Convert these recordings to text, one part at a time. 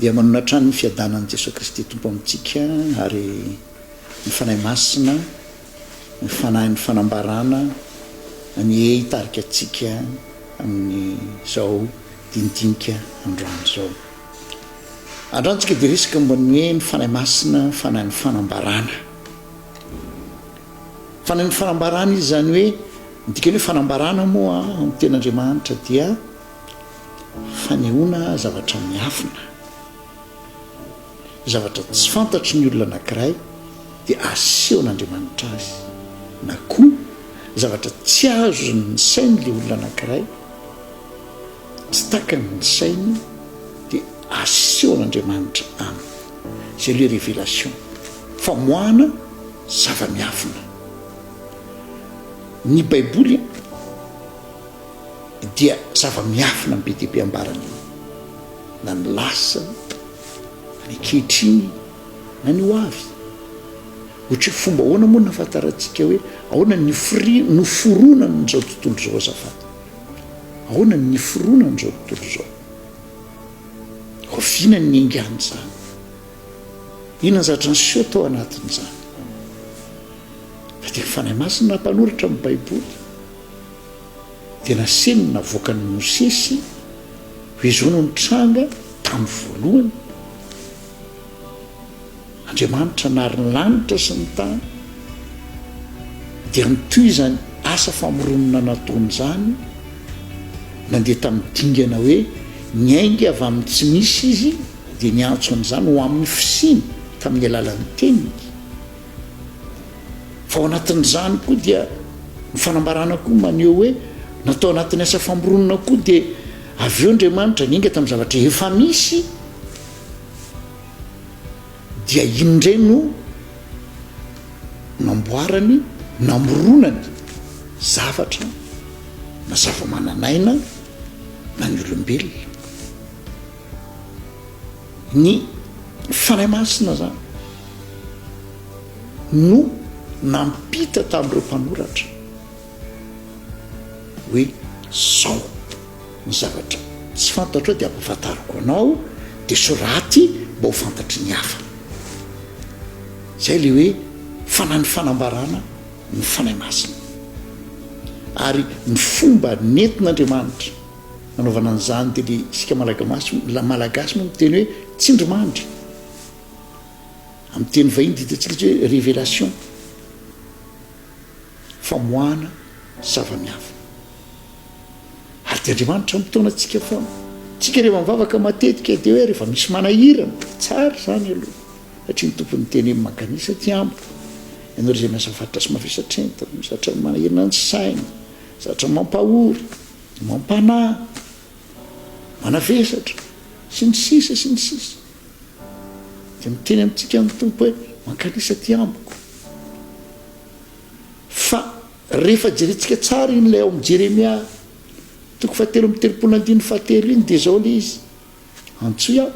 Dia manona hatrany ny fiadanan'i Jesoa Kristy Tompo amintsika ary ny Fanahy Masina, ny Fanahin'ny fanambarana anie hitarika antsika amin'izao dinidinika androany izao. Androany tsika dia resaka momba ny hoe ny Fanahy Masina, Fanahin'ny fanambarana. Fanahin'ny fanambarana izy izany hoe, ny dikany hoe fanambarana moa amin'ny tenin'Andriamanitra dia, Fanehoana zavatra miafina. Zavatra tsy fantatry ny olona anankiray dia asehon'Andriamanitra azy. Na koa zavatra tsy azon'ny sain'ilay olona anankiray, tsy takany ny sainy dia asehon'Andriamanitra aminy. Izay ilay révélation. Famoahana zava-miafina. Ny Baiboly dia zava-miafina ny be dia be ambarany io, na ny lasa, na ny ankehitriny, na ny ho avy. Ohatra hoe fomba ahoana moa no nahafantarantsika hoe ahoana ny fri- noforonany izao tontolo izao azafady? Ahoana ny niforonany izao tontolo izao? Oviana ny niaingan'izany? Inona ny zavatra niseho tao anatin'izany? Fa dia ny Fanahy Masina no nampanoratra ny Baiboly. Dia nasehony ny navoakan'i Mosesy hoe izao no nitranga tamin'ny voalohany, Andriamanitra nary ny lanitra sy ny tany, dia nitohy izany asa famoronana nataony izany, nandeha tamin'ny dingana hoe niainga avy amin'ny tsy misy izy, dia niantso an'izany ho amin'ny fisiany tamin'ny alalan'ny teniny. Fa ao anatin'izany koa dia ny fanambarana koa maneho hoe na tao anatin'ny asa famoronana koa dia avy eo Andriamanitra niainga tamin'ny zavatra efa misy dia iny indray no namboarany namoronany zavatra na zava-manan'aina na ny olombelona. Ny Fanahy Masina izany no nampita tamin'ireo mpanoratra hoe izao ny zavatra tsy fantatrao dia ampahafantariko anao, dia soraty mba ho fantatry ny hafa. Izay ilay hoe fanan'ny fanambarana ny Fanahy Masina. Ary ny fomba nentin'Andriamanitra. anaovana an'izany dia le isika malagamasy malagasy moa miteny hoe tsindrimandry amin'ny teny vahiny dia hitantsika tsy hoe révélation famoahana zava-miafina ary dia andriamanitra mitaona antsika foana tsika rehefa mivavaka matetika dia hoe rehefa misy manahirana tsara izany aloha satria ny tompon'ny teny amin'ny makanisa aty amiko ianao izay miasa faritra sy mavesatra entana misy zatra manahirana ny saina zatra mampahory Mampanahy, manavesatra, sy ny sisa sy ny sisa. Dia miteny amintsika ny Tompo hoe, Mankalisa aty amiko. Fa rehefa jerentsika tsara iny ilay ao amin'ny Jeremia toko fahatelo amby telopolo andininy fahatelo iny dia izao ilay izy, Antsoy aho,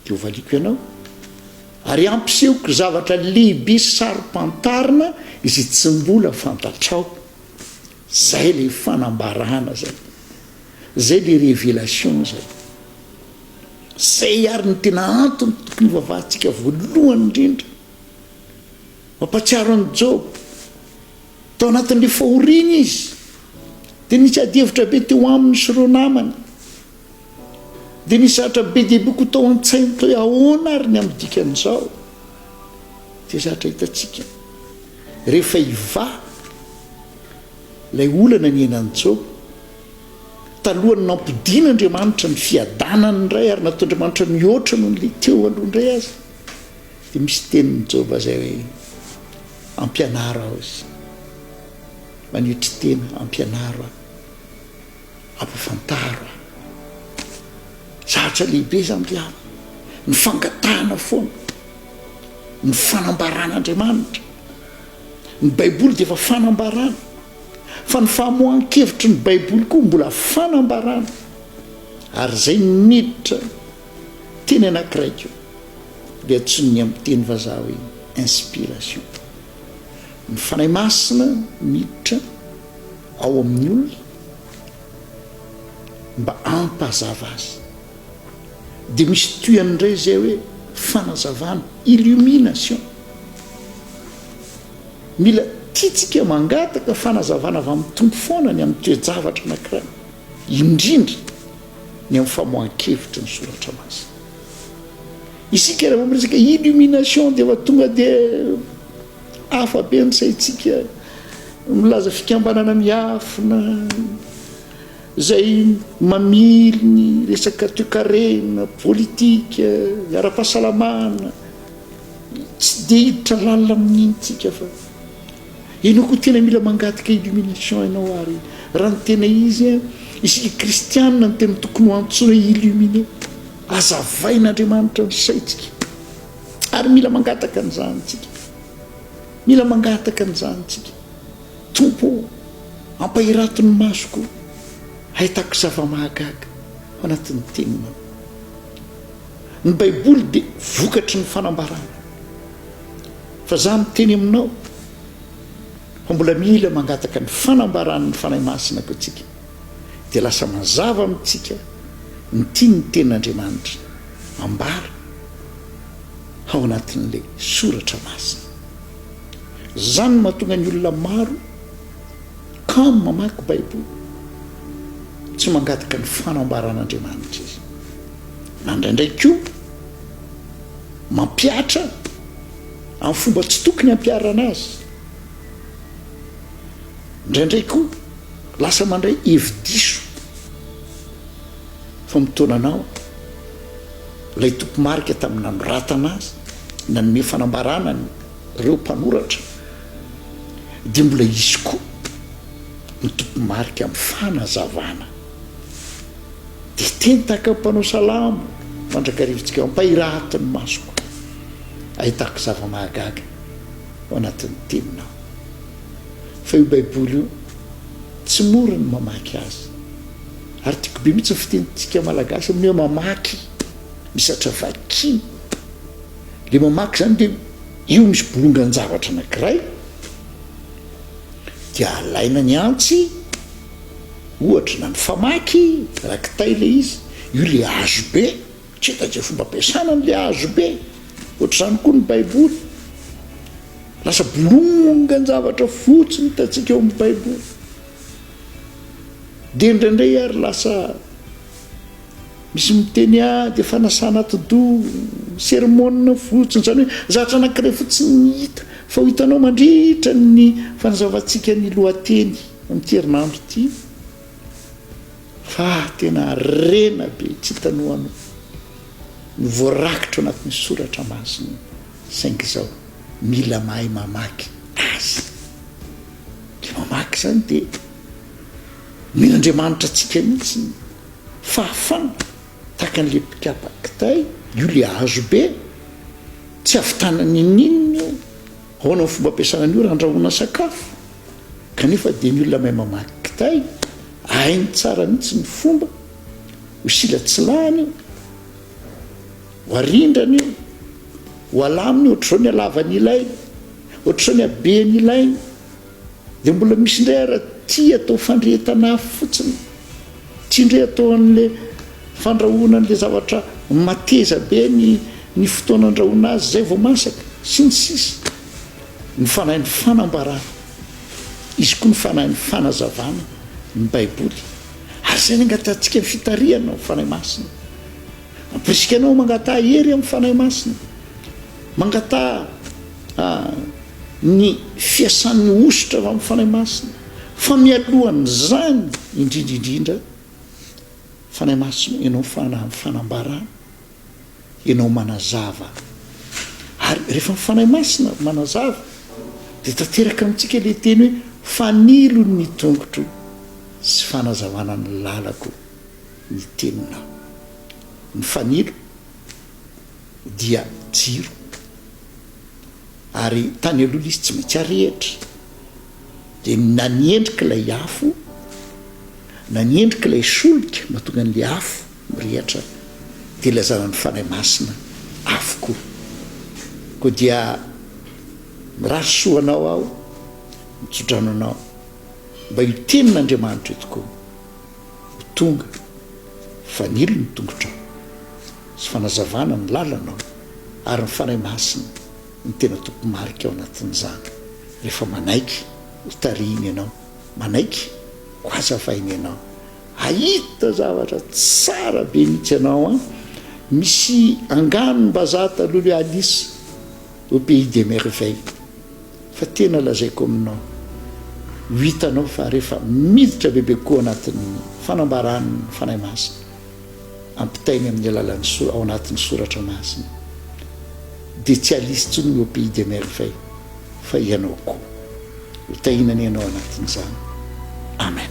dia hovaliako ianao, ary hampisehoko zavatra lehibe sy saro-pantarina izay tsy mbola fantatrao. Zay le fanambarana zay. Zay le révélation zay. Zay ary no tena antony tokony hivavahantsika voalohany indrindra. Mampatsiaro an'i Joba. Tao anatin'le fahoriana izy. Dia nisy adihevitra be teo aminy sy ireo namany. Dia nisy zavatra be dia be koa tao an-tsainy toy ahoana ary ny amin'ny dikan'izao? Dia zatra hitantsika rehefa hivaha ilay olana niainan'i Joba, talohan'ny nampodian'Andriamanitra ny fiadanany indray ary nataon'Andriamanitra mihoatra noho ilay teo aloha indray aza, dia misy tenin'i Joba izay hoe, Ampianaro aho, Jesosy. Manetry tena, ampianaro aho. Ampafantaro aho. Zavatra lehibe izany ry havana. Ny fangatahana foana ny fanambaran'Andriamanitra. Ny Baiboly dia efa fanambarana, fa ny famoahan-kevitry ny Baiboly koa mbola fanambarana. Ary izay niditra teny anankiray koa dia antsoin'ny amin'ny teny vazaha hoe inspiration. Ny Fanahy Masina miditra. ao amin'ny olona mba hampazava azy dia misy tohiny indray izay hoe fanazavana illumination mila tiantsika mangataka fanazavana avy amin'ny tompo foana ny amin'ny toe-javatra anankiray indrindra ny amin'ny famoahan-kevitry ny soratra masina isika rehefa miresaka illumination dia efa tonga dia Hafa be ny saintsika milaza fikambanana miafina izay mamily ny resaka toekarena, politika, ara-pahasalamana, tsy dia hiditra lalina amin'iny tsika fa ianao koa tena mila mangataka illumination ianao ary raha ny tena izy isika kristianina no tena tokony ho antsoina illuminer, azavain'Andriamanitra ny saintsika. Ary mila mangataka an'izany tsika. Mila mangataka an'izany tsika. Tompo ô, ampahirato ny masoko hahitako zava-mahagaga ao anatin'ny Teninao. Ny Baiboly dia vokatry ny fanambarana. Fa izaho miteny aminao fa mbola mila mangataka ny fanambaran'ny Fanahy Masina koa tsika. dia lasa mazava amintsika ny tian'ny Tenin'Andriamanitra ambara ao anatin'ilay Soratra Masina. Izany no mahatonga ny olona maro kamo mamaky Baiboly. Tsy mangataka ny fanambaran'Andriamanitra izy, na indraindray koa mampihatra amin'ny fomba tsy tokony hampiharana azy. Indraindray koa, Lasa mandray hevi-diso fa mitaona anao ilay tompo-marika tamin'ny nanoratana azy, nanome fanambarana an'ireo mpanoratra, dia mbola hisy koa ny tompo-marika amin'ny fanazavana. Dia teny tahaka ny mpanao salamo mandrakarivantsika, Ampahirahito ny masoko, ahitako zava-mahagaga ao anatin'ny teninao. fa io baiboly io tsy mora ny mamaky azy ary tiako be mitsy ny fitenitsika malagasy amin'ny hoe mamaky misatra vakiny le mamaky zany de io misy bolongan-javatra anakiray de alaina ny antsy ohatra na ny famaky rakitay le izy io le azo be Tsy hita izay fomba ampiasana an'ilay hazobe. Ohatr'izany koa ny Baiboly. Lasa bolongan-javatra fotsy no hitantsika eo amin'ny Baiboly. Dia indraindray ary lasa misy miteny ady, fanasana atidoha, sermona fotsiny. Izany hoe zavatra anankiray fotsiny ny hita. Fa ho hitanao mandritra ny fanazavantsika ny lohateny amin'ity herinandro ity. Fa tena harena be tsy hitanohano no voarakitra ao anatin'ny soratra masina saingy izao mila mahay mamaky azy le mamaky izany de omena Andriamanitra antsika mihitsy ny fahafana tahaka an'le mpikapa kitay io le hazo be tsy avitanana ininona io Ahoana ny fomba ampiasana ny ora handrahoana sakafo? Kanefa dia ny olona mahay mamaky kitay hainy tsara mihitsy ny fomba ho silatsilahany io, ho arindrany io, ho alaminy io, ohatr'izao ny halavany ilainy, ohatr'izao ny habeny ilainy. Dia mbola misy indray ara ty atao fandrehetana afo fotsiny, tsy indray atao anle fandrahoana anle zavatra mateza be ny ny fotoana andrahoana azy zay vao masaka sy ny sisa Ny fanahin'ny fanambarana izy koa ny fanahin'ny fanazavana ny baiboly ary izay ny angatahantsika ny fitarihana amin'ny fanahy masina Ampirisika anao mangataha hery amin'ny fanahy masina mangataha A. Ny fiasan'ny hosotra amin'ny Fanahy Masina, fa mialohan'izany indrindra indrindra, Fanahy Masina, Ianao Fanahy amin'ny fanambarana, Ianao manazava. Ary rehefa ny Fanahy Masina manazava, dia tanteraka amintsika ilay teny hoe, Fanilo ny tongotro sy fanazavana ny lalako ny Teninao. Ny fanilo dia jiro. ary tany aloha ilay izy tsy maintsy arehitra dia na ny endrika ilay afo na ny endrika ilay solika mahatonga an'ilay afo mirehatra dia ilazana ny fanahy masina avokoa koa dia mirary soa anao aho mitsodrano anao mba io tenin'andriamanitra io tokoa ho tonga, fanilo ny tongotrao, sy fanazavana ny lalanao, ary ny Fanahy Masina no tena tompo-marika ao anatin'izany, rehefa manaiky ho tarihina ianao, manaiky ho hazavaina ianao. Hahita zavatra tsara be mihitsy ianao an! Misy angano mbazaha taloha le Alice. Au pays des merveilles fa tena lazaiko aminao ho hitanao fa rehefa miditra bebe koa ao anatin'ny fanambaran'ny Fanahy Masina ampitainy amin'ny alalan'ny sora ao anatin'ny soratra masina dia tsy alisy intsony ny au pays des merveilles fa ianao koa ho tahina ny anao anatin'izany amen